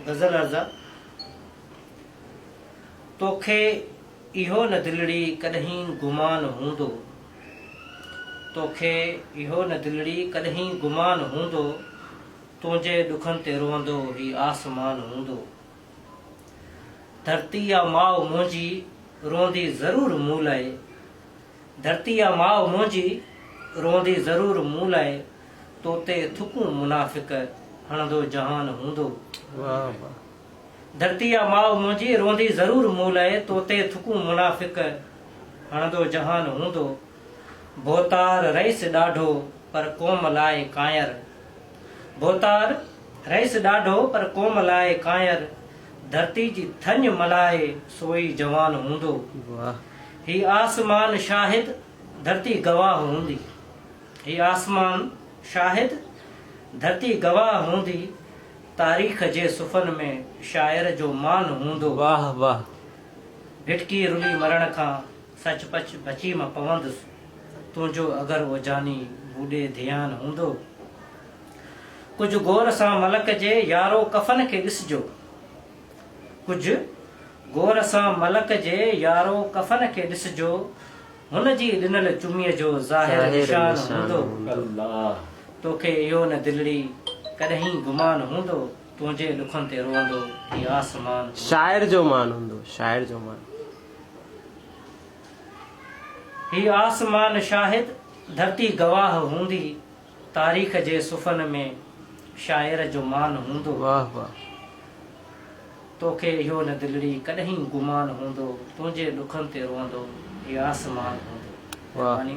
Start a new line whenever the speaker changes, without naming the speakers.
غزل رضا! توکي اهو نه دلڙي ڪڏهين گمان هوندو، توکي اهو نه دلڙي ڪڏهين گمان هوندو، تنهنجي ڏکن تي روئندو هي آسمان هوندو. ڌرتي آ ماء منهنجي روئندي ضرور مون لئه، ڌرتي آ ماء منهنجي، روئندي ضرور مون لاء، تو تي ٿڪون منافق، هڻندو جهان هوندو. واهه واهه. ڌرتي آ ماء منهنجي، روئندي ضرور مون لاء، تو تي ٿڪون منافق، هڻندو جهان هوندو. ڀوتار رئيس ڏاڍو، پر قوم لاء ڪانئر. ڀوتار رئيس ڏاڍو، پر قوم لاء ڪانئر، ڌرتي جي ٿڃ ملهائي، سوئي جوان هوندو. واهه. هي آسمان شاهد، ڌرتي گواهه هوندي. هي آسمان شاهد، ڌرتي گواهه هوندي. تاريخ جي صفحن ۾ شاعر جو مان هوندو. واهه واهه
ڀٽڪي
رلي مرڻ کان سچ پچ بچي مان پوندس. تنهنجو اگر او جاني بوڏي ڌيان هوندو. ڪجهه غور سان ملڪ جي يارو ڪفن کي ڏسجو. ڪجهه غور سان ملڪ جي يارو ڪفن کي ڏسجو هن جي ڏنل چميء جو ظاهر نشان هوندو توکي اهو نه دلڙي ڪڏهين گمان هوندو تنهنجي ڏکن تي روئندو هي آسمان
هوندو.
هي آسمان شاهد ڌرتي گواهه هوندي تاريخ جي صفحن ۾ شاعر جو مان هوندو. واهه واهه.
توکي
اهو نه دلڙي ڪڏهين گمان هوندو تنهنجي ڏکن تي روئندو هي آسمان هوندو. مهرباني.